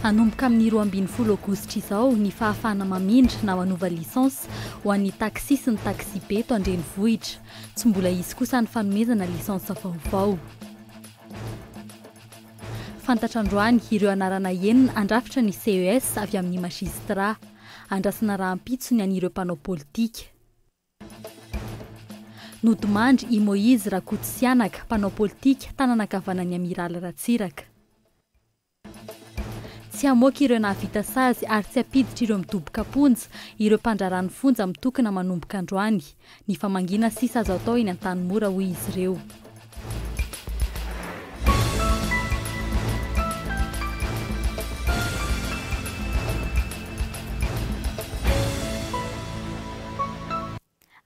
Hanomboka amin'ny roa ambin'ny folo aogositra izao ny fahafahana mamindra na manova lisansa ho an'ny taxi sy ny taxi-be eto an-drenivohitra. Tsy mbola hisy kosa ny fanomezana lisansa vaovao. Fantatra androany ireo anarana enina handrafitra ny CES avy amin'ny Magistrat. Andrasana rahampitso ny an'ireo mpanao politika. Nodimandry i Moise Rakototsihanaka, mpanao politika, tanana ankavanan'ny Amiraly Ratsiraka. Tsy hamoaka ireo nahavita sazy ary tsy hampiditra ireo midoboka am-ponja ireo mpandraharaha ny fonja mitokona manomboka androany. Ny famangiana sisa azo atao eny Antanimora, hoy izy ireo.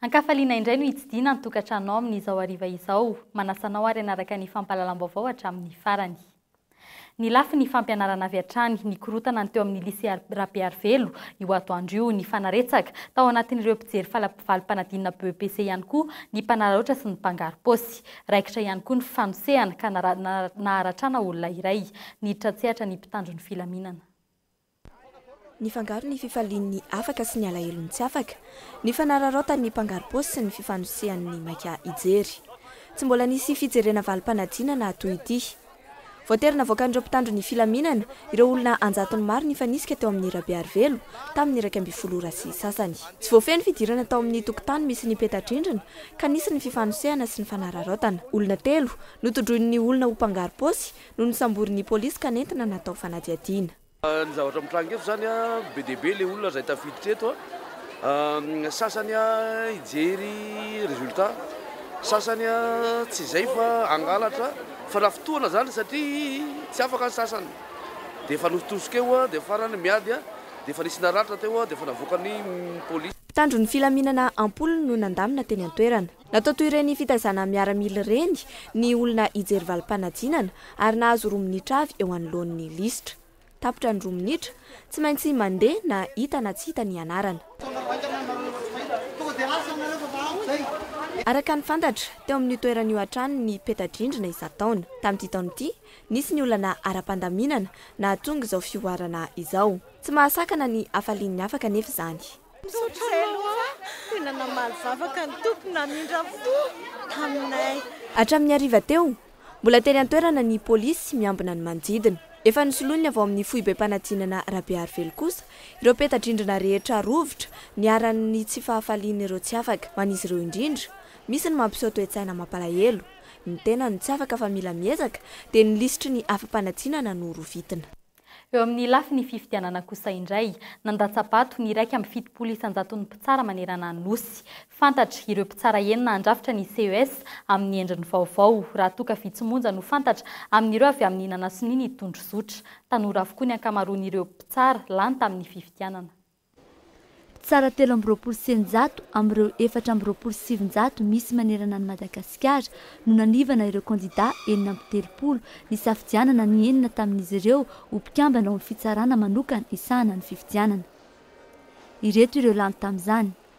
An-kafaliana indray no hitsidihina ny tokantranonao amin'izao hariva izao. Manasa anao àry hanaraka ny fampahalalam-baovao hatramin'ny farany. Ny lafiny fampianarana avy hatrany, nikorontana ny teo amin'ny Lycée Rabearivelo io atoandro io. Nifanaretsaka, tao anatin'ireo mpijery falavalo-panadinana BEPC ihany koa, ny mpanararaotra sy ny mpangarom-paosy. Raikitra ihany koa ny fanosehana, ka naharatrana olona iray. Niditra an-tsehatra ny mpitandro ny filaminana. Nifangaro ny fifalian'ny afaka sy ny alahelon'ny tsy afaka, ny fanararaotan'ny mpangarom-paosy sy ny fifanosehan'ny maika hijery. Tsy mbola nisy fijerena valim-panadinana toy ity. Voatery navoakan'ireo mpitandro ny filaminana ireo olona an-jatony maro nifanisika teo amin'ny Rabearivelo tamin'ny iraika ambin'ny folo ora sy sasany. Tsy voafehy ny fidirana tao amin'ny tokotany misy ny peta-drindrina ka nisy ny fifanosehana sy ny fanararaotana. Olona telo notodroin'ny olona ho mpangarom-paosy no nosamborin'ny polisy ka nentina natao fanadihadiana. Ny zavatra mitranga eto izany, be dia be ilay olona izay tafiditra eto, ny sasany hijery résultat, ny sasany tsy izay fa hangalatra, fanafitohana izany satria tsy afaka ny sasany dia efa notosika eo dia farany miady dia efa nisy naratra teo dia efa navoakan'ny polisy. Mpitandro ny filaminana am-polony no nandamina teny an-toerana. Natao toy ireny fitaizana miaramila ireny ny olona hijery valim-panadinana ary nahazo roa minitra avy eo anoloan'ny lisitra. Tapitra ny roa minitra, tsy maintsy mandeha na hita na tsy hita ny anarana. Araka ny fantatra, teo amin'io toerana io hatrany ny peta-drindrina isan-taona. Tamin'ity taona ity, nisy ny olana ara-pandaminana nahatonga izao fihoarana izao. Tsy mahasakana ny hafalian'ny hafa kanefa izany. Misaotra anao a! Tena namaly vavaka ny Tompo namindra fo taminay. Hatramin'ny hariva teo, mbola teny an-toerana ny polisy miambina ny manodidina. Efa nosoloiny avy ao amin'ny foibem-panadinana Rabearivelo kosa ireo peta-drindrina rehetra rovitra niharan'ny tsy fahafalian'ireo tsy afaka. Ho an'izy ireo indrindra misy ny mampiseho toe-tsaina mampalahelo, ny tena no tsy afaka fa mila miezaka, dia ny lisitry ny afa-panadinana no rovitina. Eo amin'ny lafiny fifidianana kosa indray, nandatsa-bato ny iraika amby fitopolo isan-jaton'ny mpitsara manerana ny Nosy. Fantatra ireo mpitsara enina handrafitra ny ces amin'ny endriny vaovao, raha toa ka vitsy monja no fantatra amin'ireo avy amin'ny nanasonia ny tondrozotra. Tanora avokoa ny ankamaroan'ireo mpitsara lany tamin'ny fifidianana. Tsara telo amby roapolo sy eninjato amin'ireo efatra amby roapolo sy sivinjato misy manerana an'i Madagasikara no nanivana ireo kandidà enina amby telopolo nisafidianana ny enina tamin'izy ireo ho mpikambana ao amin'ny fitsarana manokana hisahana ny fifidianana. Ireto ireo lany tamin'izany.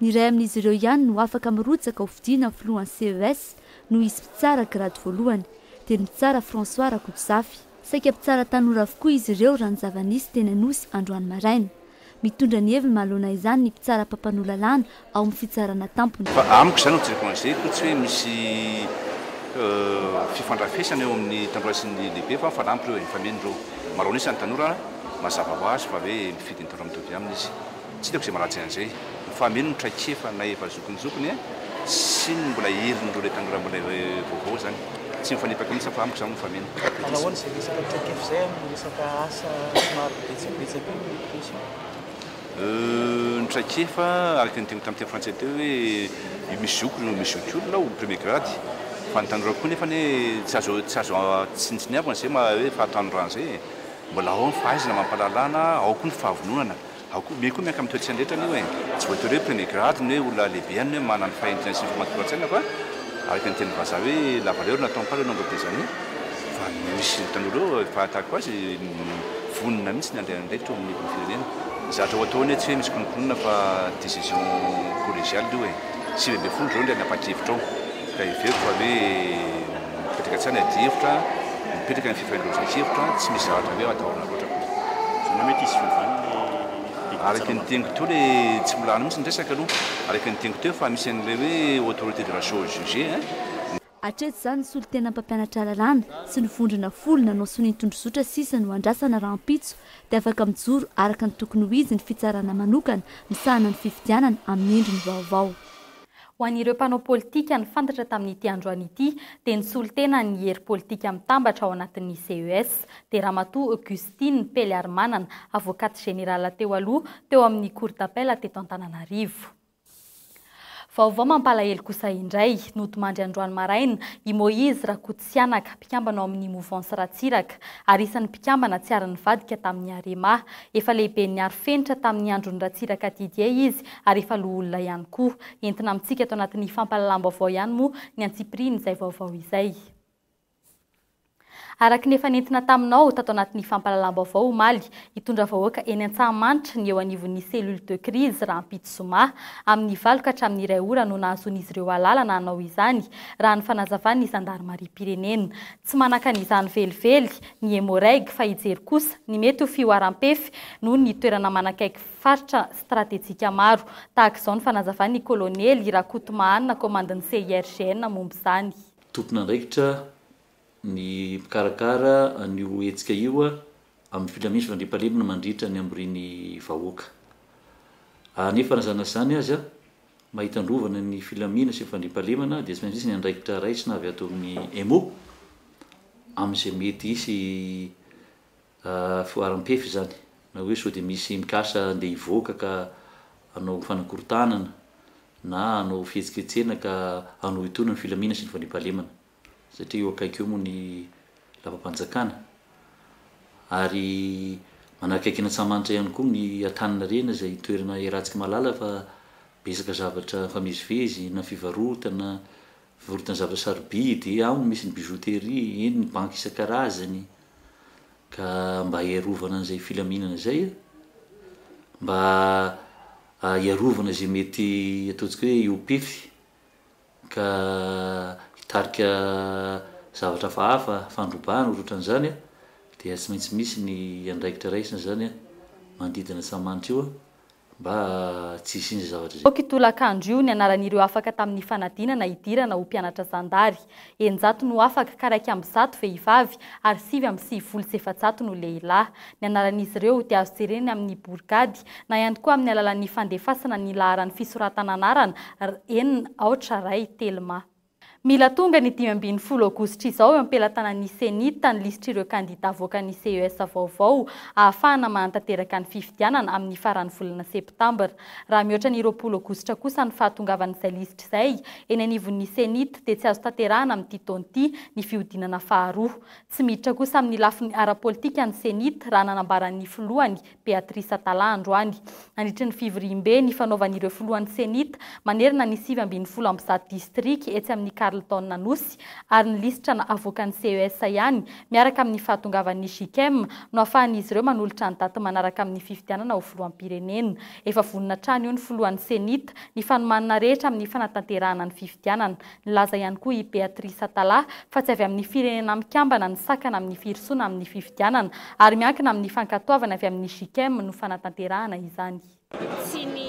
Ny iray amin'izy ireo ihany no afaka mirotsaka ho fidiana ho filohan'ny CES noho izy mpitsara grady voalohany, dia ny mpitsara François Rakotozafy. Saika mpitsara tanora avokoa izy ireo raha ny zava-nisy teny Anosy androany maraina. Mitondra ny heviny manoloana izany ny mpitsara mpampanoa lalàna ao amin'ny fitsarana tampony. Fa amiko izany no jereko an'izay koa tsy hoe misy fifandrafesana eo amin'ny tanora sy ny lehibe fa mifanampy ireo e, mifameno ireo. Maro an'isa ny tanora mazava ho azy fa hoe mifidy ny tanora mitovy aminy izy. Tsy hitako izay maratsy an'izay. Ny fahameno ny traikefa na efa zokinjokiny e! sy ny mbola herin'ireo ilay tanora mbola ilay vaovao izany. Tsy mifanipaka mihitsy fa amiko izany no mifanena. Manao ahoana izay resaka traikefa izay amin'ny resaka asa somary betsabetsaka eo no pousiny? Euh, ny traikefa, araka ny teniko tamin'ny teny frantsay teo hoe io misy zoky no misy zokiolona ao, premier grade. Fa ny tanora koa nefa anie tsy azo tsy azo tsinontsiniavina izay maha hoe fahatanorana izay e! Mbola ao ny fahaizana amam-pahalalana, ao koa ny fahavononana. Ao koa, mey koa miankina amin'ny toe-tsaina rehetra anio e! Tsy voatery hoe premier grade ny hoe olona lehibe any hoe manana ny fahendrena sy ny famatoran-tsaina fa araka ny tenin'ny vazaha hoe la valeur n'attend pas le nombre des années fa misy ny tanora eo efa tahaka azy vonona mihitsy ny handray andraikitra eo amin'ny firenena. Ny zavatra ho atao anie tsy hoe misy kononkononana fa décision collégiale io e! Sivy ambin'ny folo izao indray nanapa-kevitra ao ka heveriko fa hoe Mipetraka hatrany adihevitra, mipetraka ny fifanindroan-tsoa-kevitra, tsy misy zavatra hoe atahorana loatra akory. Izany hoe mety hisy fiovany ny didim-pitsarana. Araka ny teniko teo le tsy mbola any mihitsy ny resaka aloha, araka ny teniko teo efa misy an'ilay hoe autorité de la chose jugée hein. Hatreto izany ny solontenan'ny mpampianatra lalàna sy ny vondrona folo nanao sonia tondrozotra sisa no andrasana rahampitso dia afaka mijoro araka ny tokony ho izy ny fitsarana manokana misahana ny fifidianana amin'ny endriny vaovao. Ho an'ireo mpanao politika, ny fantatra tamin'ity androany ity dia ny solontena ny hery politika mitambatra ao anatin'ny CES, dia Ramatoa Augustine Peliarimanana, Avocate Générale teo aloha teo amin'ny Cour d'Appel teto Antananarivo. Vaovao mampalahelo kosa indray, nodimandry androany maraina i Moise Rakototsiraka, Sihanaka, mpikambana ao amin'ny Mouvance Ratsiraka, ary isan'ny mpikambana tsy ary nivadika tamin'ny Arema. Efa lehiben'ny aro fenitra tamin'ny andron'i Ratsiraka Didier izy ary efa loholona ihany koa. Entina amintsika ato anatin'ny fampahalalam-baovao ihany moa ny antsipirian'izay vaovao izay. Araka ny efa nentina taminao tato anatin'ny fampahalalam-baovao omaly, hitondra vahoaka eny Antsahamanitra ny eo anivon'ny Cellule de crise rahampitso zoma, amin'ny valo ka hatramin'ny iray ora no nahazoan'izy ireo alàlana hanao izany, raha ny fanazavan'ny zandarimariam-pirenena. Tsy manakana izany velively ny Emmo-Reg fa hijery kosa ny mety ho fihoaram-pefy noho ny toerana manakaiky faritra stratejika maro. Tahaka izao ny fanazavan'ny Kolonely Rakotomahanina komandin'ny CIRGN momba izany. Tompon'andraikitra ny mpikarakara an'io hetsika io amin'ny filaminan'ny fandriampahalemana mandritra ny hamorian'ny vahoaka. Anefa na izany na izany aza, mahita androvana ny filaminana sy ny fandriampahalemana dia tsy maintsy misy ny andraikitra raisina avy ato amin'ny Emo amin'izay mety hisy fihoaram-pefy izany na hoe sao dia misy mikasa andeha hivoaka ka hanao fanakorontanana na hanao fihetsiketsehana ka hanohitoana ny filaminana sy ny fandriampahalemana. satria eo akaiky eo moa ny lapam-panjakana ary manakaiky an'Antsahamanitra ihany koa ny Antaninarenina izay toerana iarahantsika mahalala fa betsaka zavatra mifamezivezy na fivarotana, fivarotana zavatra sarobidy, ao no misy ny bijouterie, eny ny banky isan-karazany ka mba hiarovana an'izay filaminana izay a, mba hiarovana izay mety ataontsika hoe hiopefy. ka hitarika zavatra hafahafa, fandrobana ohatran'izany, dia tsy maintsy misy ny andraikitra raisina izany manodidina an'i Samantha io mba tsy hisian'izay zavatra izay. Ity tolakandro io ny anaran'ireo afaka tamin'ny fanadinana hidirana ho mpianatra zandary. Eninjato no afaka ka iraika amby zato vehivavy ary sivy amby sivifolo sy efajato no lehilahy. Ny anaran'izy ireo dia azo jerena amin'ny borigady na ihany koa amin'ny alalan'ny fandefasana ny laharan'ny fisoratana anarana, en, aotra, ray, telma. Mila tonga ny dimy ambin'ny folo aogositra izao eo am-pelatanan'ny CENI-T ny lisitr'ireo kandidà avoakan'ny CES vaovao, ahafahana mahantanteraka ny fifidianana amin'ny faran'ny volana septambra. Raha mihoatra ny roapolo aogositra kosa ny fahatongavan'izay lisitra izay eny anivon'ny CENI-T dia tsy azo tanterahana amin'ity taona ity ny fihodinana faharoa. Tsy miditra kosa amin'ny lafiny ara-politika ny CENI-T raha nanambara ny filohany, Beatrice Atala androany. Nandritry ny fivoriambe nifanaovan'ireo filohan'ny Cenit manerana ny sivy ambin'ny folo amby zato distrika etsy amin'ny Carlton Anosy ary ny lisitra avoakan'ny CES ihany miaraka amin'ny fahatongavan'ny Gicem no afahan'izy ireo manolotra ny daty manaraka amin'ny fifidianana ho filoham-pirenena. Efa vonona hatrany io ny filohan'ny Cenit ny fanomanana rehetra amin'ny fanatanterahana ny fifidianana Nilaza ihany koa i Beatrice Atala fa tsy avy amin'ny Firenena Mikambana ny sakana amin'ny firosoana amin'ny fifidianana ary miankina amin'ny fankatoavana avy amin'ny JICM no fanatanterahana izany. Tsy ny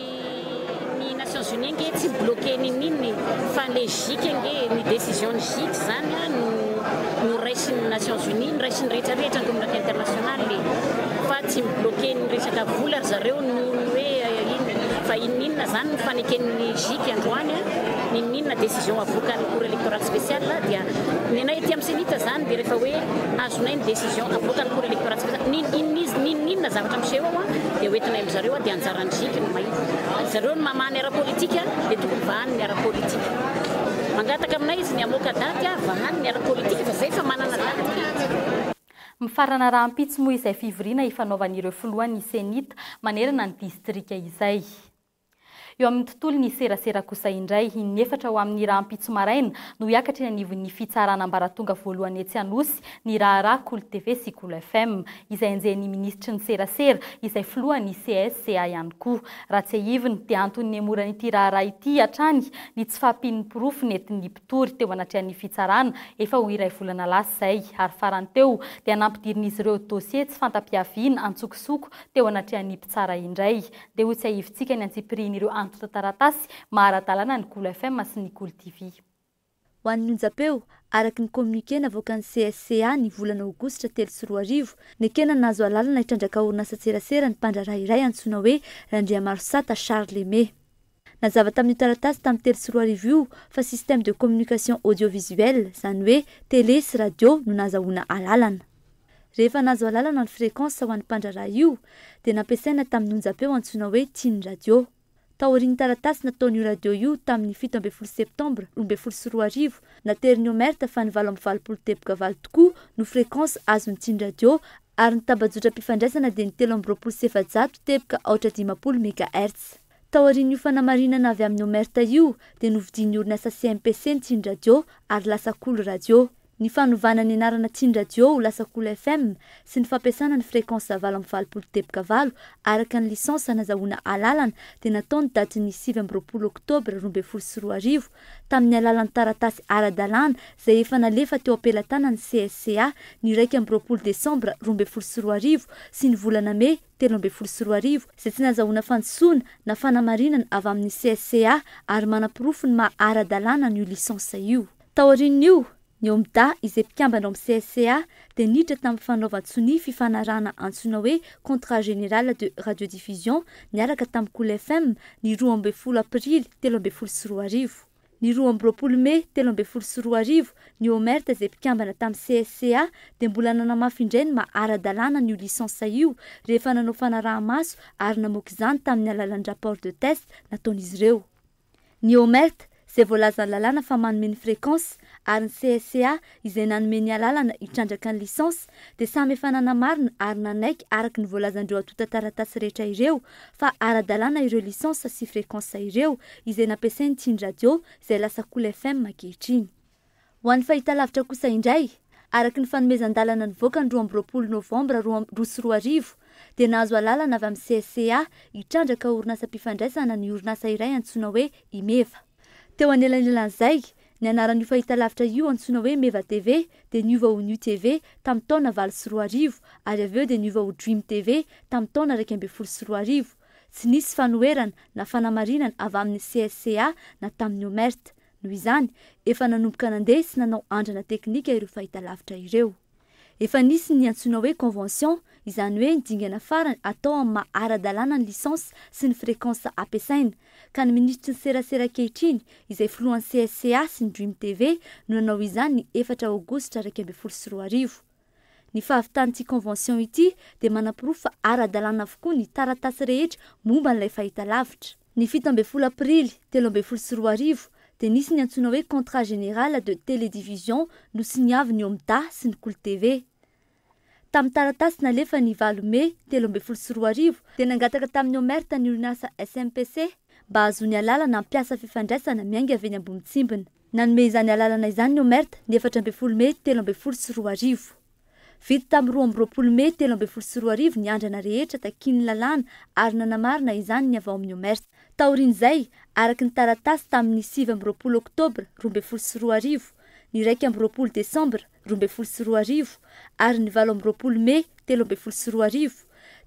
ny Nations Unies ange tsy mi-bloquer ninoninona e! Fa le JIC ange e! Ny décision ny JIC zany a no no raisin'ny Nations Unies, no raisin'ny rehetra rehetra, ny communauté internationale e! Fa tsy mi-bloquer ny resaka vola ry zareo noho ny hoe inona fa inona inona zany ny faneken'ny JIC androany a! Ninoninona decision avokan'ny cour electorale speciale dia ny anay ety amin'ny cenit zany dia rehefa hoe azonay ny decision avoakan'ny cour electorale speciale ninoninona ninoninona zavatra miseho ao dia hoentinay amin'ny zareo dia anjaran'ny gec no mahita ary zareo no mamaha ny ara politique dia tokony vahany ny ara politique mangataka aminay izy ny hamoaka daty ary vahany ny ara politique fa zay efa manana daty Mifarana rahampitso moa izay fivoriana ifanaovan'ireo filohan'ny cenit manerana ny distrika izay. Eo amin'ny tontolon'ny serasera kosa indray, in'efatra ho amin'ny rahampitso maraina no hiakatra eny anivon'ny fitsarana ambaratonga voalohany etsy Anosy ny raharaha Kolo TV sy Kolo FM, izay enjehin'ny minisitry ny serasera, izay filohan'ny CSCA ihany koa. Raha tsiahivina dia antony nihemoran'ity raharaha ity hatrany ny tsy fahampian'ny porofo nentin'ny mpitory teo anatrehan'ny fitsarana efa ho iray volana lasa izay ary farany teo dia nampidirin'izy ireo dosie tsy fanta-piaviana antsokosoko teo anatrehan'ny mpitsara indray dia ho tsiahivintsika ny antsipirihin'ireo antontan-taratasy maha ara-dalàna ny Cool FM sy ny Cool TV. Ho an'ny onjam-peo, araka ny communiqué navoakan'ny CSCA ny volana aogositra telo sy roa arivo, nekena nahazo alalana hitrandraka orinasantserasera ny mpandraharaha iray antsoina hoe Randriamarosata Charles Aimé. Nazava tamin'io taratasy tamin'ny telo sy roa arivo io fa système de communication audiovisuelle, izany hoe télé sy radio no nahazahoana alalana. Rehefa nahazo alalana ny fréquence ho an'ny mpandraharaha io dia nampiasaina tamin'ny onjam-peo antsoina hoe Tiny Radio. Taorian'ny taratasy nataon'io radio io tamin'ny fito ambin'ny folo septambra roa ambin'ny folo sy roa arivo, naterin'ny OMERT fa ny valo amby valopolo teboka valo tokoa no fréquence azon'ny Tiny Radio ary ny tambajotram-pifandraisana dia ny telo amby roapolo sy efajato teboka aotra dimampolo mégahertz. Taorian'io fanamarinana avy amin'ny OMERT io dia novidian'ny orinasa CMPC ny Tsindry Radio ary lasa Kolo Radio. Ny fanovana ny anarana Tsindry Radio ho lasa Kolo FM sy ny fampiasana ny fréquence valo amby valopolo deboka valo araka ny licence hanazahoana alalana dia natao ny datin'ny sivy amby roapolo oktobra roa ambin'ny folo sy roa arivo tamin'ny alalan'ny taratasy ara-dalàna izay efa nalefa teo am-pelatanan'ny CSCA ny iraika amby roapolo desambra roa ambin'ny folo sy roa arivo sy ny volana mey telo ambin'ny folo sy roa arivo izay tsy nahazahoana fandisoana na fanamarinana avy amin'ny CSCA ary manaporofo ny maha ara-dalàna an'io lisansa io. Taorian'io, ny Omda izay mpikambana ao amin'ny CSCA dia niditra tamin'ny fanaovan-tsonia fifanarahana antsoina hoe Contrat Général de Radiodiffusion niaraka tamin'ny Cool FM ny roa ambin'ny folo Aprily telo ambin'ny folo sy roa arivo. Ny roa amby roapolo mey telo ambin'ny folo sy roa arivo, ny OMERT izay mpikambana tamin'ny CSCA dia mbola nanamafy indray ny maha ara-dalàna an'io lisansa io rehefa nanao fanaraha-maso ary namoaka izany tamin'ny alalan'ny rapport de test nataon'izy ireo. Ny OMERT izay voalazan'ny lalàna fa manome ny fréquence ary ny CSCA izay nanome ny alalana hitrandraka ny lisansa dia samy efa nanamarina ary nanaiky araka ny voalazan'ireo antontan-taratasy rehetra ireo fa ara-dalàna ireo lisansa sy frekansa ireo izay nampiasain'ny Tiny Radio izay lasa Cool FM ankehitriny. Ho an'ny fahitalavitra kosa indray, araka ny fanomezan-dalana nivoaka ny roa amby roapolo novambra roa amby roa sy roa arivo dia nahazo alalana avy amin'ny CSCA hitrandraka orinasam-pifandraisana ny orinasa iray antsoina hoe Imeva. Teo anelanelan'izay, Ny anaran'io fahitalavitra io antsoina hoe Meva TV dia niova ho New TV tamin'ny taona valo sy roa arivo ary avy eo dia niova ho Dream TV tamin'ny taona iraika ambin'ny folo sy roa arivo. Tsy nisy fanoherana na fanamarinana avy amin'ny CSCA na tamin'ny OMERT. Noho izany, efa nanomboka nandeha sy nanao andrana teknika ireo fahitalavitra ireo. Efa nisy ny antsoina hoe convention, izany hoe ny dingana farany atao amin'ny maha ara-dalàna ny licence sy ny fréquence ampiasaina, ka ny minisitry ny serasera ankehitriny, izay filohan'ny CSCA sy ny Dream TV, no nanao izany ny efatra aogositra iraika ambin'ny folo sy roa arivo. Ny fahavitan'ity convention ity dia manaporofo fa ara-dalàna avokoa ny taratasy rehetra momba an'ilay fahitalavitra. Ny fito ambin'ny folo aprily telo ambin'ny folo sy roa arivo dia nisy ny antsoina hoe Contrat général de télédivision nosiniavin'ny Omda sy ny Kolo TV. Tamin'ny taratasy nalefa ny valo mey telo ambin'ny folo sy roa arivo dia nangataka tamin'ny Omert ny orinasa SMPC mba hahazoany alalana hampiasa fifandraisana miainga avy eny Ambonitsimbina. Nanome izany alalana izany ny Omert ny efatra ambin'ny folo mey telo ambin'ny folo sy roa arivo. Vita tamin'ny roa amby roapolo mey telo ambin'ny folo sy roa arivo ny andrana rehetra takian'ny lalàna ary nanamarina izany ny avy ao amin'ny OMERS. Taorian'izay, araka ny taratasy tamin'ny sivy amby roapolo oktobra roa ambin'ny folo sy roa arivo, ny iraika amby roapolo desambra roa ambin'ny folo sy roa arivo ary ny valo amby roapolo mey telo ambin'ny folo sy roa arivo,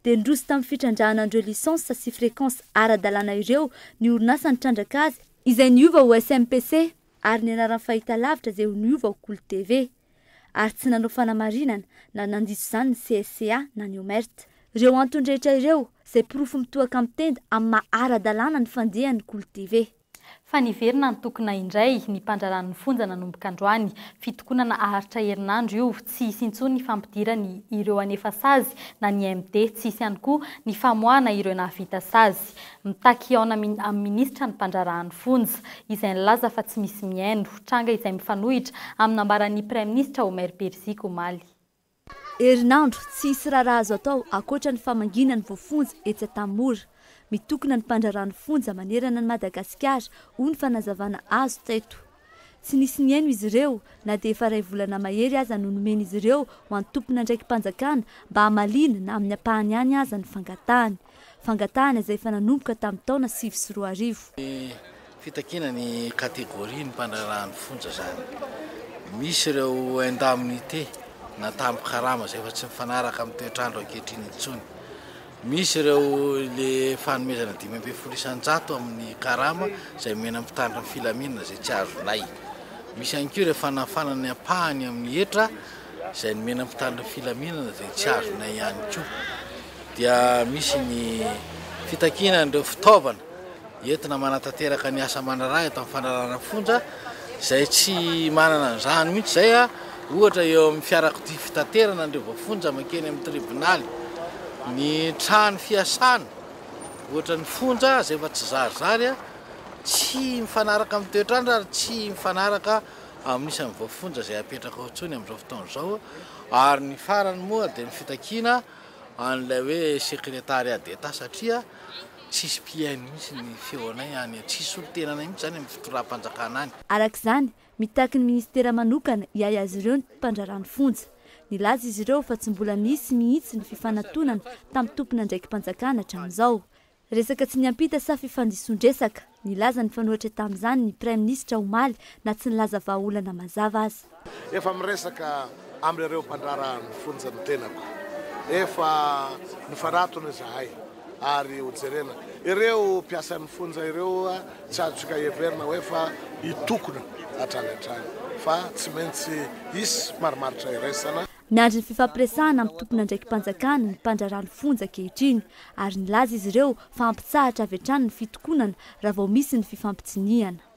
dia nindroso tamin'ny fitrandrahana an'ireo lisansa sy frekansa ara-dalàna ireo ny orinasa nitrandraka azy, izay niova ho SMPC, ary ny anaran'ny fahitalavitra izay ho niova ho Kolo TV. ary tsy nanao fanamarinana na nandiso izany ny CSCA na ny OMERT. Ireo antony rehetra ireo izay porofo mitohaka mitenda amin'ny maha ara-dalàna ny fandihan'ny Kolo TV. Fa niverina nitokona indray ny mpandraran'ny fonja nanomboka androany. Fitokonana aharitra herinandro io. Tsy hisy intsony ny fampidirany ireo hanefa sazy na ny MD. Tsy hisy ihany koa ny famoahana ireo nahavita sazy. Mitaky hihaona amin'ny minisitra ny mpandraharahan'ny fonja, izay nilaza fa tsy misy mihaino, tranga izay mifanohitra amin'ny nambaran'ny praiminisitra Omer Perziky omaly. Herinandro, tsy hisy raharaha azo atao ankoatra ny famangiana ny voafonja etsy Antanimora. Mitokona ny mpandraharahan'ny fonja manerana an'i Madagasikara, hoy ny fanazavana azo teto. Tsy nisy nihaino izy ireo, na dia efa iray volana mahery aza no nomen'izy ireo ho an'ny tompon'andraiki-panjakana mba hamaliana na amin'ny ampahany ihany aza ny fangatahany. Fangatahana izay efa nanomboka tamin'ny taona sivy sy roa arivo. Fitakiana ny catégorie ny mpandraharaha ny fonja izany. Misy ireo indemnités na tambin-karama izay efa tsy mifanaraka amin'ny toetr'andro ankehitriny intsony. Misy ireo le fanomezana dimy ambin'ny folo isan-jato amin'ny karama izay omena ny mpitandro ny filaminana izay tsy azonay. Misy ihany koa ireo fanafana ny ampahany amin'ny hetra izay nomena ny mpitandro ny filaminana izay tsy azonay ihany koa. Dia misy ny fitakiana an'ireo fitaovana. Entina manatanteraka ny asa aman'arahiny eto amin'ny fandrarana fonja izay tsy manana an'izany mihitsy izay ohatra eo amin'ny fiarakodia fitaterana an'ireo voafonja mankeny amin'ny tribonaly, ny trano fiasana ohatra ny fonja izay efa tsy zarizary, tsy mifanaraka amin'ny toetr'andro ary tsy mifanaraka amin'ny isan'ny voafonja izay apetraka ao intsony amin'izao fotoana izao ary ny farany moa dia ny fitakiana an'ilay hoe sekretariat d'Etat satria Tsisy mpihaino mihitsy ny feonay any an, tsisy solontenanay mihitsy zany amin'ny fitondram-panjakana any. Araka izany, mitaky ny minisitera manokana hiahy azy ireo ny mpandraharaha ny fonja. Nilaza izy ireo fa tsy mbola nisy mihitsy ny fifanatonana tamin'ny tompon'andraiki-panjakana hatramin'izao. Resaka tsy niampita sa fifandisoan-dresaka? Nilaza ny fanohitra tamin'izany ny Praiminisitra omaly na tsy nilaza vahaolana mazava aza. Efa miresaka amin'ireo mpandraharaha ny fonja ny tenako. Efa nifanatona izahay ary hojerena. Ireo mpiasan'ny fonja ireo tsy azontsika heverina hoe efa hitokona hatrany hatrany fa tsy maintsy hisy marimaritra iraisana. Miandry ny fifampiresahana amin'ny tompon'andraiki-panjakana ny mpandraharaha ny fonja ankehitriny ary nilaza izy ireo fa hampitsahatra avy hatrany ny fitokonana raha vao misy ny fifampitsinihana.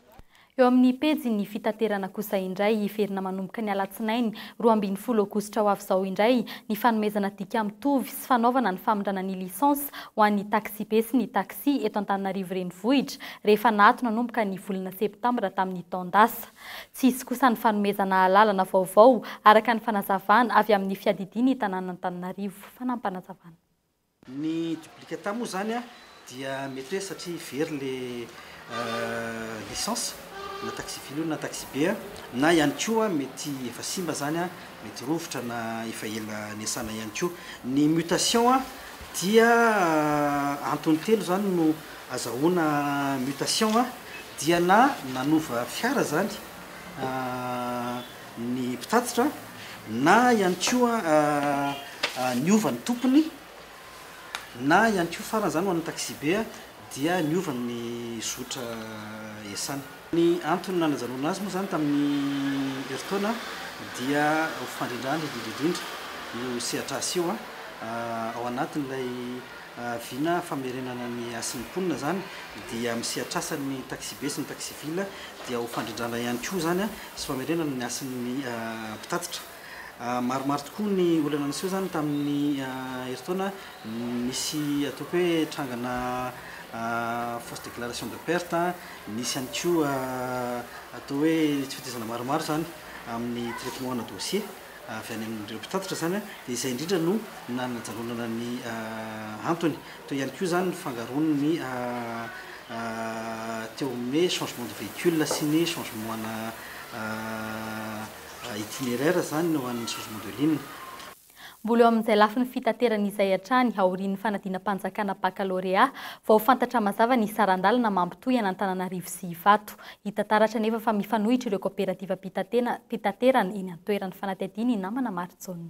Eo amin'ny pejin'ny fitaterana kosa indray hiverina manomboka ny alatsinainy roa ambin'ny folo aogositra ho avy izao indray ny fanomezana dika mitovy sy fanaovana ny famindrana ny licence ho an'ny taxibe sy ny taxi eto Antananarivo Renivohitra rehefa naato nanomboka ny volana septambra tamin'ny taon-dasa. Tsy hisy kosa ny fanomezana alalana vaovao araka ny fanazavana avy amin'ny fiadidian'ny tanàn'Antananarivo. Fanampinazavana. Ny duplicata moa izany dia mety hoe satria very ilay licence, na taxi-ville io na taxi-be, na ihany koa mety efa simba izany, mety rovitra na efa ela niasana ihany koa. Ny mutation dia antony telo izany no azahoana mutation dia na nanova fiara izany, ny mpitatitra na ihany koa niova ny tompony na ihany koa farany izany ho an'ny taxi-be dia niova ny zotra iasany. Ny antony nanajanona azy moa izany tamin'ny herintaona dia ho fandrindrana indrindra indrindra io sehatr'asa io ao anatin'ilay vina famerenana ny hasin'ny mponina izany dia amin'ny sehatr'asan'ny taxi-be sy ny taxi-ville dia ho fandrindrana ihany koa izany sy famerenana ny hasin'ny mpitatitra. Maromaro tokoa ny olana niseho izany tamin'ny herintaona nisy ataoko hoe trangana fausse déclaration de perte, nisy ihany koa atao hoe tsy fitaizana maromaro izany amin'ny traitement ana dossier avy any amin'ireo mpitatitra izany dia izay indrindra no nanajanonana ny antony. Teo ihany koa izany ny fangaroan' ny teo amin' ny hoe changement de véhicule sy ny changement ana itinéraire izany ho an' ny changement de ligne. Mbola eo amin' izay lafiny fitaterana izay hatrany aorian' ny fanadinam-panjakana bakalorea vao fantatra mazava ny saran-dalana mampitohy an' Antananarivo sy Ivato. Hita taratra anefa fa mifanohitra ireo kaoperativam-pitaterana eny an-toeran' ny fanadihadian' i Namana Marijaona.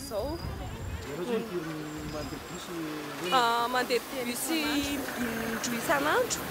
izao. Ianao izao impiry mandeha bus hoe? Mandeha bus indroa isan'andro.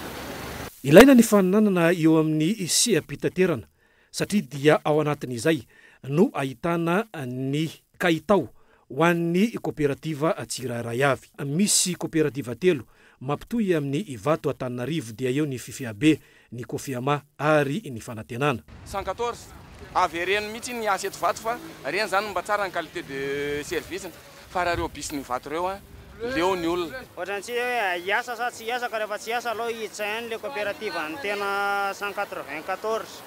Ilaina ny faninanana eo amin'ny seha-pitaterana satria dia ao anatin'izay no ahitana ny kalitao ho an'ny koperativa tsirairay avy. Misy koperativa telo mampitohy amin'ny Ivato Antananarivo dia eo ny Fifiabe, ny Kofiama ary ny Fanantenana. Cent quatorze, avereno mitsy ny asa eto vato fa reny zany no mba tsara ny qualité de service fa raha reo bus ny vato reo an leo ny olona. Ohatrany tsy hoe hiasa sa tsy hiasa ka rehefa tsy hiasa aleo hiditra ihany le coopérative an'ny tena cent quatre vingt quatorze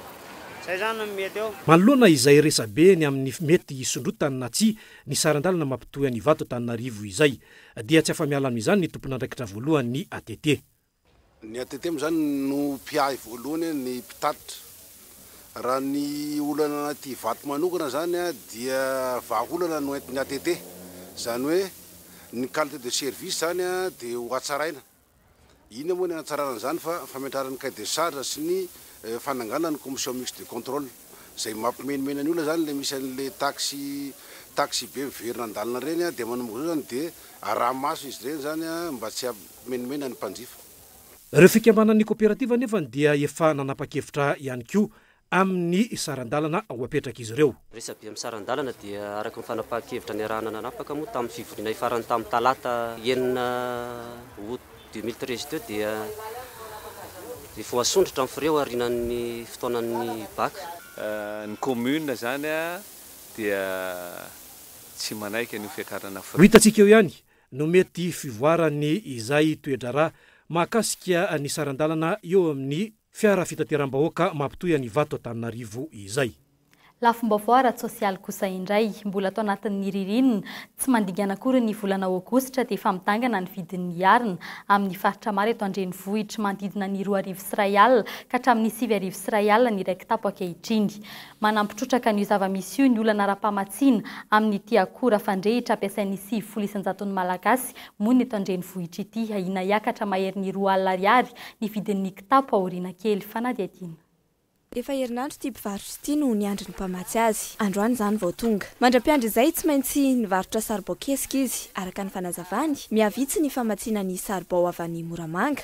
zay zany no mety eo. Manoloana izay resabe ny amin'ny mety hisondrotany na tsia ny saran-dalana mampitohy an'Ivato Antananarivo izay dia tsy afa-miala amin'izany ny tompon'andraikitra voalohany ny ATT. Ny ATT moa izany no mpiahy voalohany ny mpitatitra. Raha ny olana anaty Ivato manokana izany dia vahaolana no entin'ny ATT. Izany hoe ny qualité de service izany dia ho hatsaraina. Inona moa ny hanatsarana an'izany fa fametrahana ny cahier de charge sy ny fananganana ny commission mixte de contrôle. Izay mampimenomenan'ny olona izany ilay misy an'ilay taxi taxi be miverina an-dalana ireny dia manomboka izao izany dia araha-maso izy ireny izany mba tsy Omenomenany ny mpanjifa. Ireo fikambanan'ny koperativa anefany dia efa nanapa-kevitra ihany koa amin'ny saran-dalana ho apetrak'izy ireo. Resabe amin'ny saran-dalana dia araka ny fanapahan-kevitra niarahana nanapaka moa tamin'ny fivoriana ifarany tamin'ny talata enina aout deux mille treize teo dia ny voasondrotra amin'ny frais aorianan'ny fotoanan'ny bac. Ny commune izany dia tsy manaiky an'io fiakarana frais. Ho hitantsika eo ihany no mety fivoaran'ny izay toe-draharaha mahakasika ny saran-dalana eo amin'ny fiara fitateram-bahoaka mampitohy an'i Ivato Antananarivo izay. Lafim-baovao ara-tsosialy kosa indray, mbola ato anatin'ny ririnina tsy mandingana akory ny volana aogositra dia efa midangana ny vidin'ny arina amin'ny faritra maro eto an-drenivohitra, manodidina ny roa arivo sy iray alina ka hatramin'ny sivy arivo sy iray alina ny iray kitapo ankehitriny. Manampy trotraka an'io zava-misy io ny olana ara-pamatsiana amin'ity akora fandrehitra ampiasain'ny sivifolo isan-jaton'ny Malagasy monina eto an-drenivohitra ity. Ahiana hiakatra maherin'ny roa alina ariary ny vidin'ny kitapo aoriana kely fanadihadiana. Efa herinandro ity mpivarotra ity no niandry ny mpamatsy azy. Androany izany vao tonga. Mandra-piandry izay tsy maintsy nivarotra saribao kesika izy. Araka ny fanazavany, mihavitsy ny famatsiana ny saribao avy any Moramanga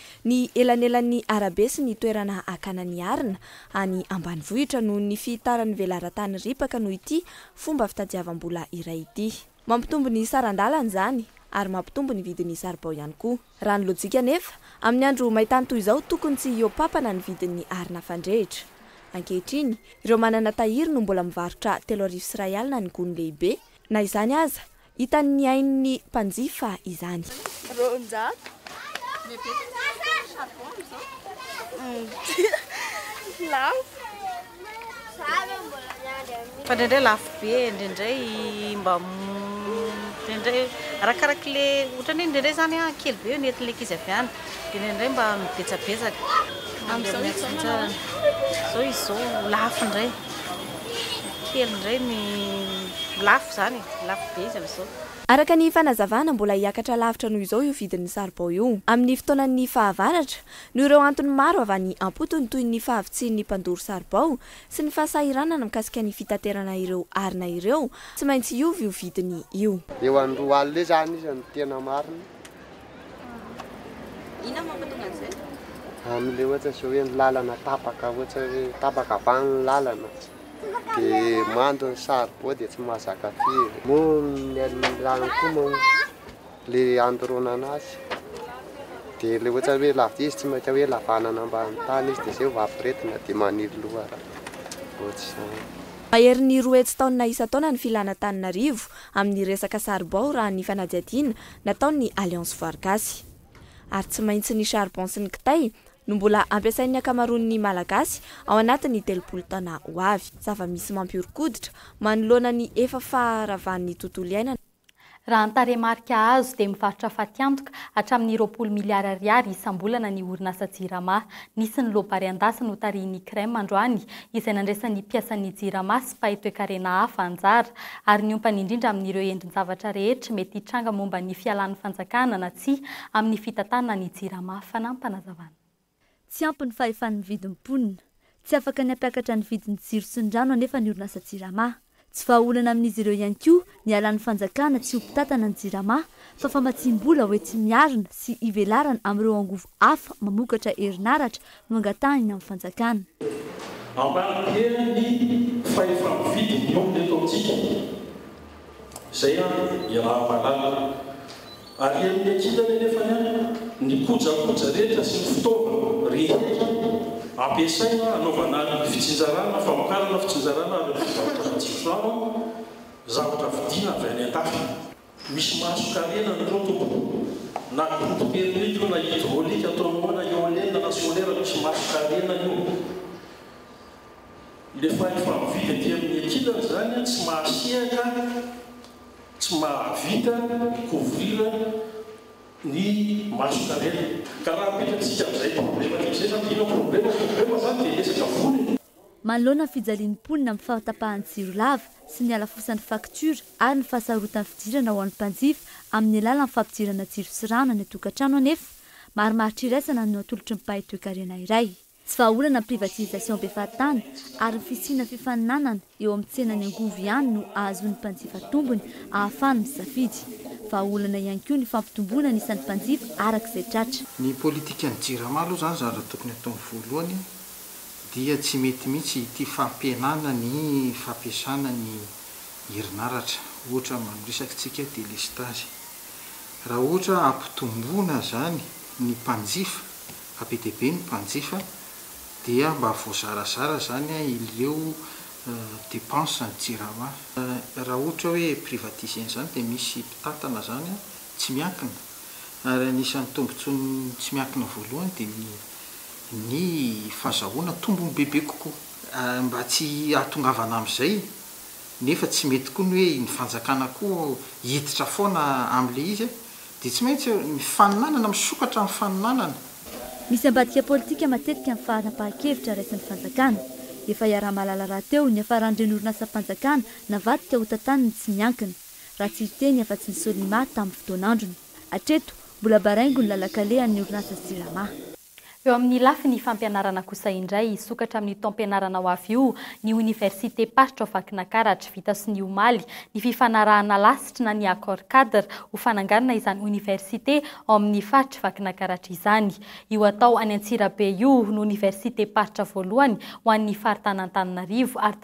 Ny elanelan'ny arabe sy ny toerana akana ny arina any ambanivohitra noho ny fihitaran'ny velaran-tany ripaka noho ity fomba fitadiavam-bola iray ity. Mampitombo ny saran-dalana izany ary mampitombo ny vidin'ny saribao ihany koa. Raha ny lojika anefa, amin'ny andro main-tany toy izao tokony tsy hihoa-pampana ny vidin'ny arina fandrehitra. Ankehitriny, ireo manana tahiry no mbola mivarotra telo arivo sy iray alina ny gony lehibe, na izany aza, Hitan'ny ain'ny mpanjifa izany. Roanjato. Dia betsaka ny vidin'ny charbon amin'izao. Lafo. Fa indraindray lafo be, indraindray mba indraindray arakaraky le ohatran'ny hoe indraindray izany kely be ny entin'ilay ankizy avy any dia indraindray mba mibetsabetsaka. Amin'izao izy izao manao ahoana? Amin'izao izy izao lafo indray. Kely indray ny lafo. Izany e! Lafo be izy amin'izao. Araka ny fanazavana, mbola hiakatra lavitra noho izao io vidin'ny saribao io, amin'ny fotoanan'ny fahavaratra, noho ireo antony maro avy any am-potony toy ny fahavitsian'ny mpandoro saribao sy ny fahasahiranana mikasika ny fitaterana ireo arina ireo, tsy maintsy hiova io vidiny io. Eo amin'ny roa alina eo izany izy no tena marina. Inona no mampatonga an'izay? Amin'ilay ohatra izao hoe ny lalana tapaka, ohatra hoe tapaka avy any ny lalana. dia mando ny saribao dia tsy mahazaka firy. Moa ny alin'ny lalana koa moa le andoronana azy dia le ohatra hoe lavitra izy tsy maintsy hoe lavanana ambany tany izy dia zay vao aforetina dia maniry lohara ohatr'izany. Maherin'ny roa hetsy taonina isan-taona ny filan'Antananarivo amin'ny resaka saribao raha ny fanadihadiana nataon'ny Alliance Voarigasy. Ary tsy maintsy ny charbon sy ny kitay no mbola ampiasain'ny ankamaroan'ny Malagasy ao anatin'ny telopolo taona ho avy. Zava-misy mampihoron-koditra manoloana ny efa faharavan'ny tontolo iainana. Raha ny tarehimarika azo dia mivarotra fatiantoka hatramin'ny roapolo miliara ariary isam-bolana ny orinasa Jirama. Nisy ny loa Bariandahy sy notarihin'ny Crem androany izay nandraisan'ny mpiasan'ny Jirama sy mpahay toekarena hafa anjara ary niompany indrindra amin'ireo endrin-javatra rehetra mety hitranga momba ny fialan'ny fanjakana na tsia amin'ny fitantanana ny Jirama fanampanazavan'. Tsy ampy ny fahefan'ny vidin'ny mponina. Tsy afaka ny hampiakatra ny vidin'ny jiro sy ny rano anefa ny orinasa Jirama. Tsy vahaolana amin'izy ireo ihany koa ny halan'ny fanjakana tsy ho mpitantana ny Jirama fa famatsiam-bola hoenti-miarina sy hivelarana amin'ireo angovo hafa mamokatra herinaratra no angatahina amin'ny fanjakana. Ampanipihena ny fahefa-mividy ny omby eto amintsika. Izay an i Rahavalala. Arian'ny ankilany anefa ny an ny kojakoja rehetra sy ny fitaovana rehetra ampiasaina hanaovana ny fitsinjarana, famokarana, fitsinjarana ary ny fivarotra matsiro saro an zavatra vidiana avy any an-dafy. Misy matso-karena ny rotobo, na groupe thermique io na hydraulique ataonao ao na eolienne na solaire misy matso-karena io. Le fahefa mividy aty amin'ny ankilany izany tsy mahasehaka, tsy mahavita mi-couvrir ny matso-karena. Ka raha apetratsika amin'izay problema tia zay zany dia inona problema? Problema zany dia resaka vola e! Manoloana ny fijalian'ny mponina amin'ny fahatapahan'ny jiro lava sy ny halafosan'ny faktiora ary ny fahasarotan'ny fidirana ho an'ny mpanjifa amin'ny alalan'ny fampidirana jiro sy rano any an-tokantrano anefa, marimaritra iraisana no natolotry ny mpahay toekarena iray. Tsy vahaolana ny privatisation be fahatany ary ny fisiana fifaninanana eo amin'ny tsenan'ny angovo ihany no ahazoan'ny mpanjifa tombony ahafahany misafidy. Vahaolana ihany koa ny fampitomboana ny isan'ny mpanjifa araka izay tratra. Ny politikan'ny Jirama aloha izany zany raha tokony ataony voalohany. dia tsy mety mihitsy ity fampihenana ny fampiasana ny herinaratra ohatra amin'io resakintsika delestazy. Raha ohatra ampitomboina izany ny mpanjifa, fa be dia be ny mpanjifa, dia mba voazarazara izany ireo depenses ny jirama. Raha ohatra hoe privatiser-na izany dia misy mpitantana izany tsy miankina, ary anisan'ny tombotsoan'ny tsy miankina voalohany dia ny. ny fazahoana tombony bebe kokoa. Mba tsy hahatongavana amin'izay, nefa tsy mety koa ny hoe ny fanjakana koa hiditra foana amin'ilay izy, dia tsy maintsy eo ny faninanana, misokatra amin'ny faninanana. Misy ambadika politika matetika amin'ny fanapahan-kevitra raisin'ny fanjakana. Efa iaraha-mahalala rahateo ny hiafaran'ireny orinasam-panjakana navadika ho tantaniny tsy miankina, raha tsy hiteny afa-tsy ny Solima tamin'ny fotoan'androny. Hatreto, mbola baraingo ny lalan-kalehan'ny orinasa Silama. Eo amin'ny lafiny fampianarana kosa indray, hisokatra amin'io taom-pianarana ho avy io ny oniversitem-paritra ao Vakinankaratra. Vita sonia omaly ny fifanarahana lasitry na ny accord cadre ho fananganana izany oniversite ao amin'ny faritr'i Vakinankaratra izany. Io atao any Antsirabe io no oniversitem-paritra voalohany ho an'ny faritanan-Antananarivo ary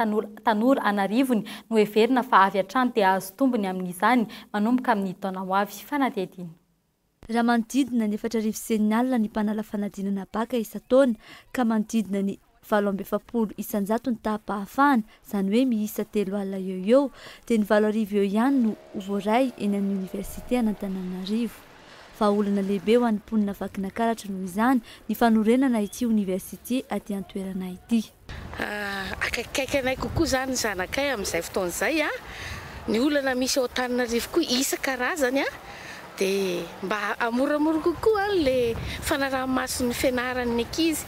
tanora an'arivony no heverina fa avy hatrany te hahazo tombony amin'izany manomboka amin'ny taona ho avy. Fanadihadiana. Raha manodidina ny efatra arivo sy enina alina ny mpanala fanadinana bacc isan-taona ka manodidina ny valo amby efapolo isan-jato ny taham-pahafahana, izany hoe miisa telo alina eo ho eo, dia ny valo arivo eo ihany no ho voaray eny amin'ny oniversite an'Antananarivo. Vahaolana lehibe ho an'ny mponina Vakinankaratra noho izany ny fanorenana ity oniversite aty an-toerana ity. Akaikikaiky anay kokoa izany ny zanakay amin'izay fotoana izay. Ny olana misy ao Antananarivo koa isan-karazany dia mba hamoramora kokoa ilay fanaraha-mason'ny fianaran'ny ankizy,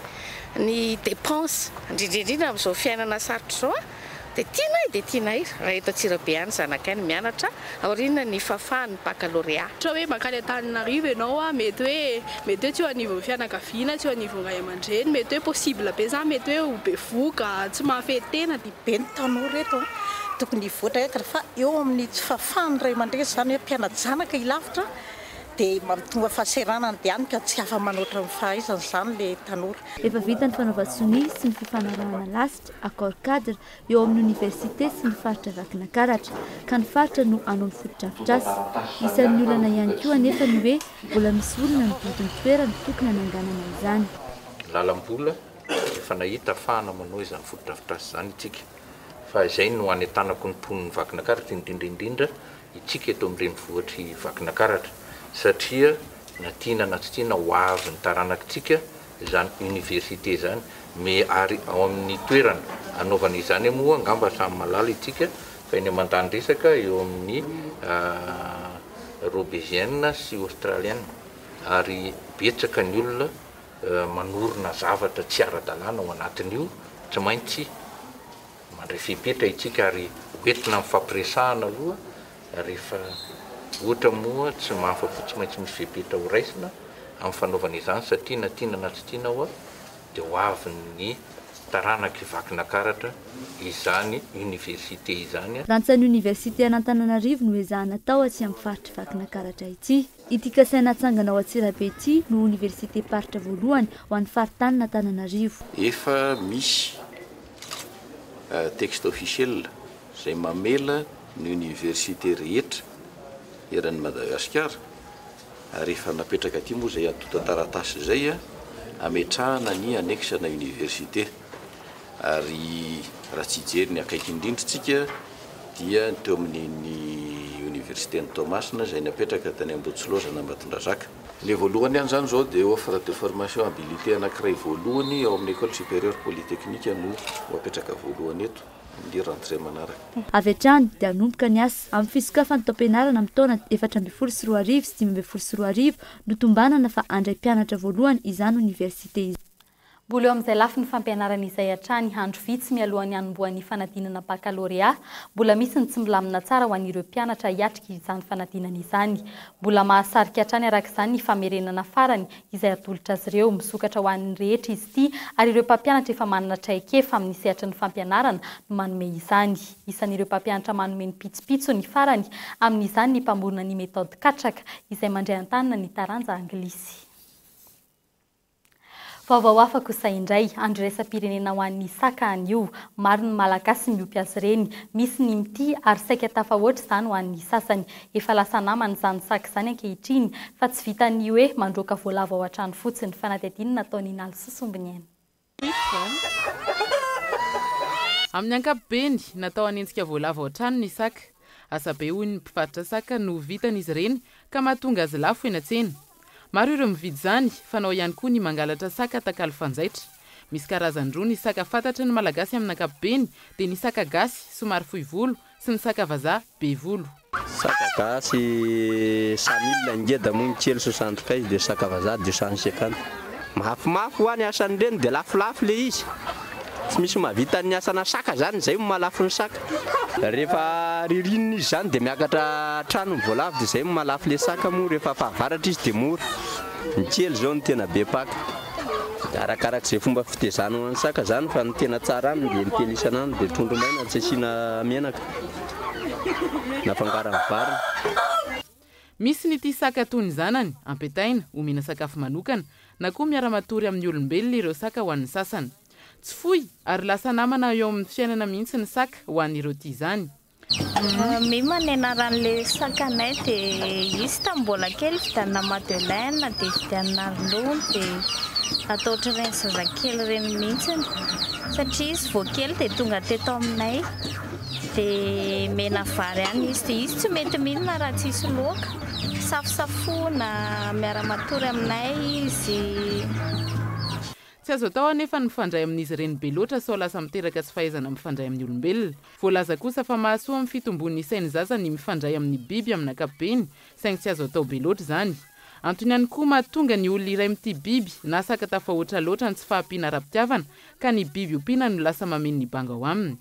ny dépenses, indrindra indrindra amin'izao fiainana sarotra izao Dia tianay dia tianay raha eto Antsirabe any zanakay no mianatra aoriana ny fahafahan'ny baccalauréat. Ohatra hoe mankany Antananarivo ianao a, mety hoe mety hoe tsy eo anivon'ny fianakaviana, tsy eo anivon'ny ray aman-dreny, mety hoe possible be zany, mety hoe ho bevohoka, tsy mahafehy tena. Be ny tanora eto a, tokony hivoatra entana fa eo amin'ny tsy fahafahan'ny ray aman-dreny zany hoe mpiana-janaka hilavitra dia mampitomba fahasahiranana dia hany ka tsy afa-manoatra ny fahaizany zany le tanora. Efa vita ny fanaovan-tsonia sy ny fifanarahana lasa. University Accord Cadre eo amin'ny Oniversite sy ny faritra Vakinakaratra, ka ny faritra no hanohy ny fotodrafitrasa. Isan'ny olana ihany koa anefa ny hoe mbola misy olona mividy ny toerana tokony hananganana izany. Lalam-bola, efa nahita afahana manohy izany fotodrafitrasa izany itsika, fa izay no hanentanako ny mponin'i Vakinakaratra, indrindra indrindra itsika eto amin'ny renivohitr'i Vakinakaratra, satria na tiana na tsy tiana ho avy ny taranak'itsika izany université izany me ary ao amin'ny toerana anaovana izany moa angamba samy malala itsika fa eny aman-tany resaka eo amin'ny robesienne sy australienne ary betsaka ny olona manorina zavatra tsy ara-dalàna ao anatin'io tsy maintsy mandray fepetra itsika ary hoentina amin'ny fampiresahana aloha Rehefa ohatra moa tsy mahafa-po tsy maintsy misy fepetra ho raisina amin'ny fanaovana izany satria na tiana na tsy tiana ho'a dia ho avy ny taranaka hivaky nakaratra izany Université izany. Lanjan'ny Université an'Antananarivo no ezahana atao aty amin'ny faritr'i Vakinakaratra ity. Ity kasaina hatsangana ao Antsirabe ity no oniversitem-paritra voalohany ho an'ny faritanin'Antananarivo. Efa misy texte officiel izay mamela ny oniversite rehetra eran'i Madagasikara ary efa napetraka aty moa izay antontan-taratasy izay ametrahana ny annexe-na oniversite. Ary raha tsy hijery ny akaiky indrindra isika dia ny teo amin'iny Oniversiten'i Toamasina izay napetraka tany Ambohitsilozana Ambatondrazaka. Ny voalohany ihany izany izao dia offre de formation habilité anankiray voalohany ao amin'ny Ecole Supérieure Polytechnique no ho apetraka voalohany eto amin'ny rentrée manaraka. Avy hatrany dia hanomboka ny asa amin'ny fisokafan'ny taom-pianarana amin'ny taona efatra ambin'ny folo sy roa arivo sy dimy ambin'ny folo sy roa arivo no tombanana fa handray mpianatra voalohany izany Oniversite izany. Mbola eo amin'izay lafiny fampianarana izay hatrany, andro vitsy mialohan'ny hanombohan'ny fanadinana bakalorea, mbola misy ny tsy milamina tsara ho an'ireo mpianatra hiatrika izany fanadinana izany. Mbola mahasarika hatrany araka izany ny famerenana farany izay hatolotra azy ireo. Misokatra ho an'ny rehetra izy ity ary ireo mpampianatra efa manana traikefa amin'ny sehatry ny fampianarana no manome izany. Isan'ireo mpampianatra manome ny pitsopitsony farany amin'izany ny mpamorona ny methode katraka izay mandray an-tanana ny taranja anglisy. Vaovao hafa kosa indray, andro iraisam-pirenena ho an'ny Isaka anio. Maro ny Malagasy miompy azy ireny. Misy ny mitia ary saika tafahoatra izany ho an'ny sasany. Efa lasa namana izany saka izany ankehitriny fa tsy vitan'ny hoe mandroaka voalavo ao an-trano fotsiny fa na dia adinony ataony in'ala sy sombiny aina. Amin'ny ankapobeny, natao hanenjika voalavo ao an-trano ny saka. Asa be hoy ny mpivarotra saka no vitan'izy ireny ka mahatonga azy lafo eny an-tsena. Maro ireo mividy izany, fanao ihany koa ny mangalatra saka atakalo fanjaitra. Misy karazany roa ny saka fantatry ny Malagasy amin'ny ankapobeny dia ny saka gasy, somary fohy volo, sy ny saka vazaha, be volo. Saka gasy, Samila, Ngeda moa ny kely, Sosanto kay, dia saka vazaha, Diosan Sekana. Mafimafy hoa ny asan'ny reny dia lafolafo le izy. Tsy misy mahavita ny asana saka zany izay no mahalafo ny saka. Rehefa ririnina izy zany dia miakatra hatrany ny voalavo dia izay no mahalafo le saka moa rehefa fahavaratra izy dia mora. Ny kely zao no tena be mpaka. Arakarak'izay fomba fitezana ho an'ny saka zany fa ny tena tsara aminy dia ny kely isan'andro dia trondro maina tsy asiana menaka na fangaron'ny vary. Misy ny tia saka toy ny zanany, ampitaina, omena sakafo manokana, na koa miara-matory amin'ny olombelona ireo saka ho an'ny sasany. Tsy foy, ary lasa namana eo amin'ny fiainana mihitsy ny saka ho an'ireo tia izany. Mima ny anaran'ilay sakanay dia izy tamin'ny mbola kely vidianina madeleine dia vidianina ronono dia atao ohatran'ireny zazakely ireny mihitsy satria izy vao kely dia tonga teto aminay. Dia mena vary ihany izy. Dia izy tsy mety mihinana raha tsisy loaka. Safosafoina, miara-matory aminay izy. Tsy azo atao anefa ny mifandray amin'izy ireny be loatra sao lasa miteraka tsy fahaizana mifandray amin'ny olombelona. Voalaza kosa fa mahasoa amin'ny fitomboan'ny isain'ny zaza ny mifandray amin'ny biby amin'ny ankapobeny, saingy tsy azo atao be loatra izany. Antony ihany koa mahatonga ny olona iray mitia biby na saka tafahoatra loatra ny tsy fahampiana ara-pitiavana, ka ny biby ompiana no lasa mameno ny banga ao aminy.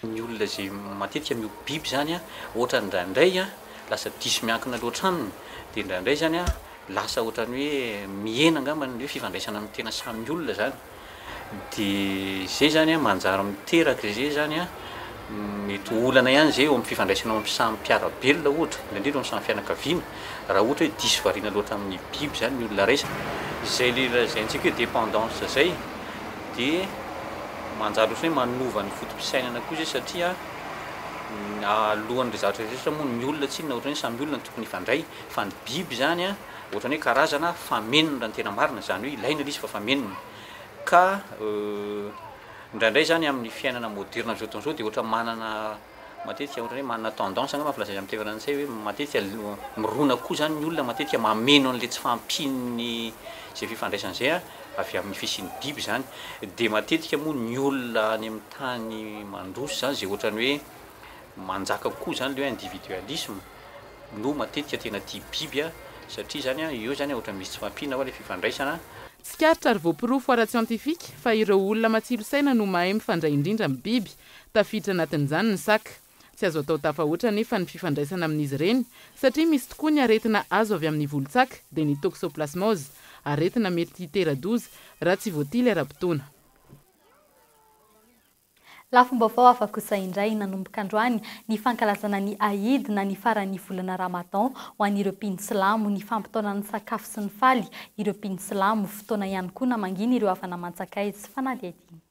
Ny olona izay matetika miompy biby izany an, ohatra indraindray an, lasa diso miankina loatra aminy, dia indraindray izany an, lasa ohatran'ny hoe mihena angamba ny hoe fifandraisana amin'ny tena samy olona izany, dia izay izany an, manjary miteraka izay izany an, mety ho olana ihany izay eo amin'ny fifandraisana eo amin'ny samy mpiara-belona ohatra, indrindra indrindra eo amin'ny samy fianakaviana, raha ohatra hoe diso variana loatra amin'ny biby izany ny olona raisina, izay ilay lazaintsika hoe dépendance izay. dia manjary ohatran'ny hoe manova ny foto-pisainana koa izay satria alohan'ireo zavatra rehetra moa ny olona tsinona ohatran'ny hoe samy olona no tokony hifandray fa ny biby izany a ohatran'ny hoe karazana famenona raha ny tena marina izany hoe ilaina ilay izy fa famenona ka indraindray izany amin'ny fiainana moderina amin'izao fotoana izao dia ohatran'ny manana Matetika ohatran'ny hoe manana tendance angamba filaza izy amin'ny teny frantsay hoe matetika mirona koa izany ny olona matetika mameno an'ilay tsy fahampian'ny izay fifandraisana izay avy amin'ny fisian'ny biby izany dia matetika moa ny olona any amin'ny tany mandroso izany izay ohatran'ny hoe manjaka kokoa izany ilay hoe individualisme no matetika tena tia biby satria izany an, eo izany an, ohatran'ny misy tsy fahampiana ao ilay fifandraisana. Tsikaritra ary voaporofo ara-tsiantifika fa ireo olona matsilo saina no mahay mifandray indrindra amin'ny biby, Tafiditra anatin'izany ny saka. Tsy azo atao tafahoatra anefa ny fifandraisana amin'izy ireny, satria misy tokoa ny aretina azo avy amin'ny volon-tsaka, dia ny toxoplasmose, aretina mety hitera-doza raha tsy voatily ara-potoana. Lafim-baovao hafa kosa indray nanomboka androany ny fankalazana ny Aïd na ny faran'ny volana Ramadan ho an'ireo mpino silamo, ny fampitaonan'ny sakafo sy ny faly ireo mpino silamo, fotoana ihany koa namangiana ireo havana mantsakaizy sy fanadihadiana.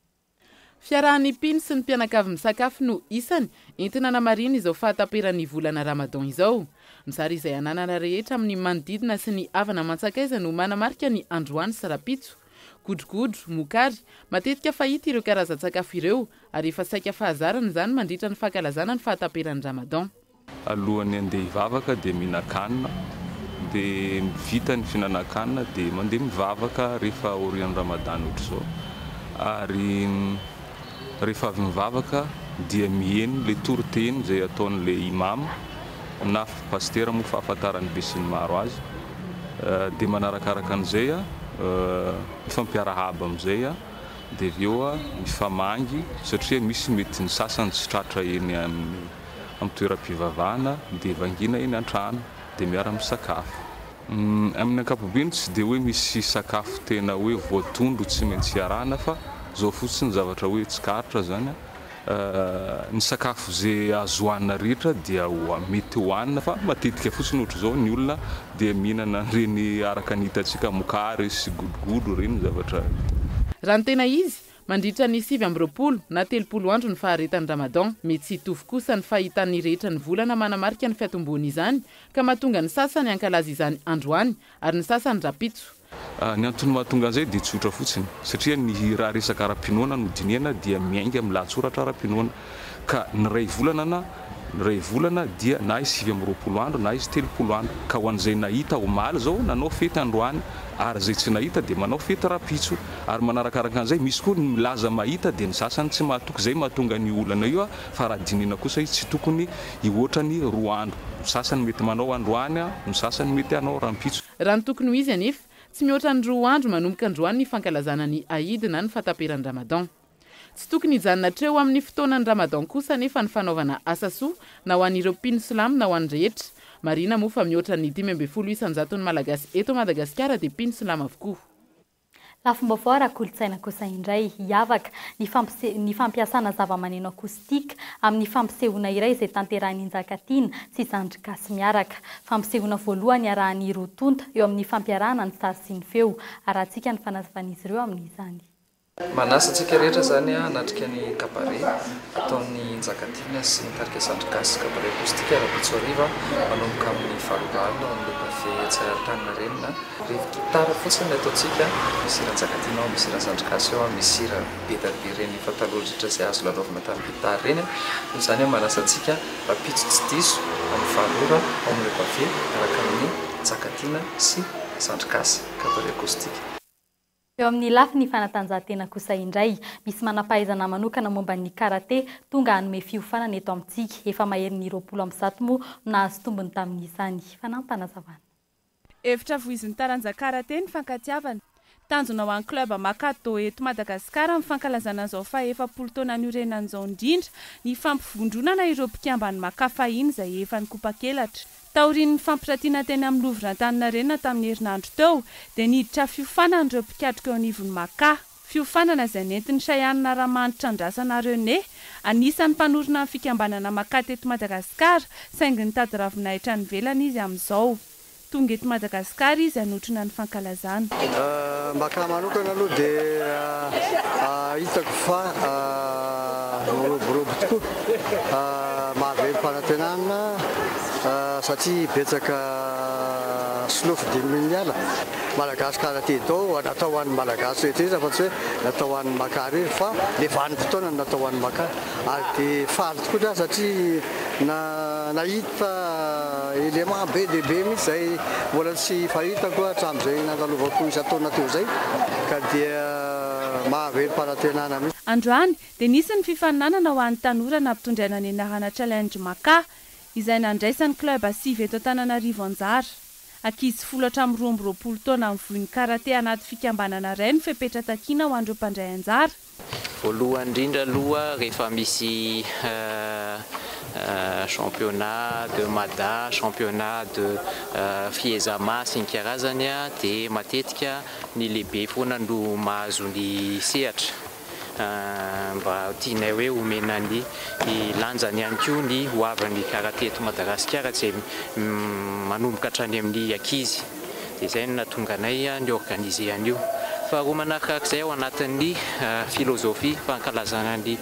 Fiarahan'ny mpino sy ny mpianakavy misakafo no isany entina namarihina izao fahataperan'ny volana Ramadan izao. Ny zary izay ananana rehetra amin'ny manodidina sy ny havana aman-tsakaiza no manamarika ny androany sy rahampitso. Godrogodro, mokary, matetika fahita ireo karazan-tsakafo ireo ary efa saika fahazarana izany mandritra ny fankalazana ny fahataperan'ny Ramadan. Alohan'ny handeha hivavaka dia mihinan-kanina, dia vita ny fihinanan-kanina dia mandeha mivavaka rehefa aorian'ny Ramadan ohatr'izao, ary rehefa avy mivavaka dia miheno ilay toriteny izay ataon'ilay Imam na Pasitera moa fahafantaran'ny besinimaro azy, dia manarakaraka an'izay mifampiarahaba amin'izay dia avy eo mifamangy satria misy mety ny sasany tsy tratra eny amin'ny. amin'ny toeram-pivavahana dia vangiana eny an-trano dia miara-misakafo. Amin'ny ankapobeny tsy dia hoe misy sakafo tena hoe voatondro tsy maintsy iarahana fa zao fotsiny zavatra hoe tsikaritra zany an, ny sakafo ze azo hohanina rehetra dia mety hohanina fa matetika fotsiny ohatr'izao ny olona dia mihinana an'ireny araka ny hitantsika mokary sy godrogodro ireny zavatra ireny. Raha ny tena izy, Mandritra ny sivy amby roapolo na telopolo andro ny faharetan'ny Ramadan. Mety tsy hitovy kosa ny fahitan'ny rehetra ny volana manamarika ny fiatombohan'izany ka mahatonga ny sasany hankalaza izany androany ary ny sasany rahampitso. Ny antony mahatonga an'izay dia tsotra fotsiny satria ny raha resaka ara-pinoana no dinihana dia miainga amin'ny lahatsoratra ara-pinoana. Ka ny iray volana na iray volana dia na izy sivy amby roapolo andro na izy telopolo andro. Ka ho an'izay nahita omaly izao nanao fety androany ary izay tsy nahita dia manao fety rahampitso. Ary manarakaraka an'izay misy koa ny milaza mahita dia ny sasany tsy mahatoky izay mahatonga an'io olana io fa raha dinihina kosa izy tsy tokony hihoatra ny roa andro. Ny sasany mety manao androany, ny sasany mety hanao rahampitso. Raha ny tokony ho izy anefa, tsy mihoatra ny roa andro manomboka androany ny fankalazana ny Aïd na ny fahataperan'ny Ramadan. Tsy tokony hijanona hatreo amin'ny fotoanan'ny Ramadan kosa anefa ny fanaovana asa soa, na ho an'ireo mpino silamo na ho an'ny rehetra. Marihina moa fa mihoatra ny dimy ambin'ny folo isan-jaton'ny Malagasy eto Madagasikara dia mpino silamo avokoa. Lafim-baovao ara-kolontsaina kosa indray, hiavaka ny fampise ny fampiasana zavamaneno acoustique amin'ny fampisehoana iray izay tanterahin'i Njakatiana sy Zandry Gasy miaraka. Fampisehoana voalohany iarahan'ny roa tonta eo amin'ny fampiarahana ny sary sy ny feo. Arahantsika ny fanazavan'izy ireo amin'izany. Manasa antsika rehetra izany hanatrika ny Kabare ataon'ny Njakatiana sy ny Tarika Zandry Gasy Kabare Acoustique Rabitso hariva manomboka amin'ny valo ora alina ao amin'ny Le Pavé etsy Antaninarenina. Revy gitara fotsiny ny ataontsika, misy hira Njakatiana ao, misy hira Zandry Gasy ao, misy hira be dia be ireny efa taloha indrindra izay azo lalaovina tamin'ny gitara ireny. Noho izany manasa antsika rahampitso tsy diso amin'ny valo ora ao amin'ny Le Pavé miaraka amin'ny Njakatiana sy Zandry Gasy Kabare Acoustique. Eo amin'ny lafiny fanatanjahantena kosa indray, misy manam-pahaizana manokana momba ny karate tonga hanome fiofanana eto amintsika. Efa maherin'ny roapolo amby zato moa no nahazo tombony tamin'izany. Fanampanazavan'i. Hevitra voizin'ny taranja karate ny fankatiavana. Tanjona ho an'ny club Maka Do eto Madagasikara amin'ny fankalazana an'izao fahaefapolo taona niorenany izao indrindra ny fampivondronana ireo mpikamban'ny Maka fahiny izay efa nikopakelatra Taorian'ny fampirantiana teny amin'ny Louvre Antaninarenina tamin'ny herinandro teo, dia niditra fiofanana ireo mpikatroka eo anivon'ny Maka. Fiofanana izay nentin'i Shayanna Ramanitra Andrasana René, anisan'ny mpanorina ny fikambanana Maka teto Madagasikara, saingy nitady ravinahitra any ivelany izy amin'izao. Tonga eto Madagasikara izy hanotrona ny fankalazana. izany. Mba ka manokana aloha dia hitako fa miroborobo tokoa, mahavelo fanantenana satria betsaka solofo dimimin'ny ala. Malagasy kara ty do a, natao ho an'ny Malagasy rehetra izy afa tsy hoe natao ho an'ny Makar izy fa le vanim-potoana no natao ho an'ny Makar ary dia faly tokoa za satria. Na nahita élément be dia be mihitsy izay mbola tsy fahitako hatramin'izay nandalovako isan-taona teo izay ka dia mahavelom-panantenana mihitsy. Androany dia nisy ny fifaninanana ho an'ny tanora nampitondraina ny anarana Challenge Maka izay nandraisan'ny club sivy eto Antananarivo anjara. Ankizy folo hatramin'ny roa amby roapolo taona mivoy ny karate anaty fikambanana iray no fepetra takiana ho an'ireo mpandray anjara. Voalohany indrindra aloha rehefa misy championnat de Mada, championnat de Fiezama sy ny karazany dia matetika ny lehibe foana no mahazo ny sehatra mba tianay hoe homena ny lanjany ihany koa ny hoavin'ny karate eto Madagasikara izay manomboka hatrany amin'ny ankizy. Dia izay no nahatonga anay ni-organiser an'io. Faharoa manarkarak'izay ao anatin'ny philosophie fankalazana ny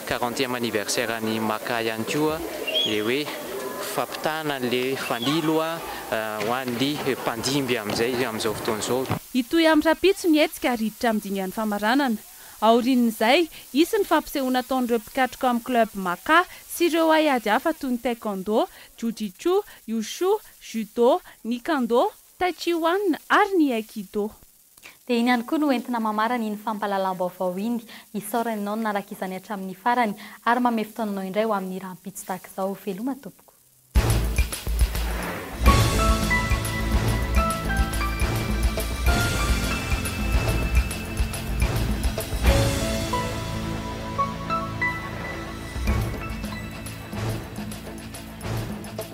quarantième anniversaire an'i Maka ihany koa ilay hoe fampitana an'ilay fanilo ho an'ny mpandimby amin'izay, amin'izao fotoana izao. Hitohy amin'ny rahampitso ny hetsika ary hiditra amin'ny dingan'ny famaranana. Aorian'izay, hisy ny fampisehoana ataon'ireo mpikatroka ao amin'ny club Maka sy ireo haiady hafa toy ny taekwondo, jiu-jitsu, wushu, Judo, ny Kando, Tai Chi Wan ary ny Aikido. Dia iny ihany koa no entina mamarana iny fampahalalam-baovao iny, hisaorana ianao nanaraka izany hatramin'ny farany ary manome fotoananao indray ho amin'ny rahampitso tahaka izao. Veloma tompoko.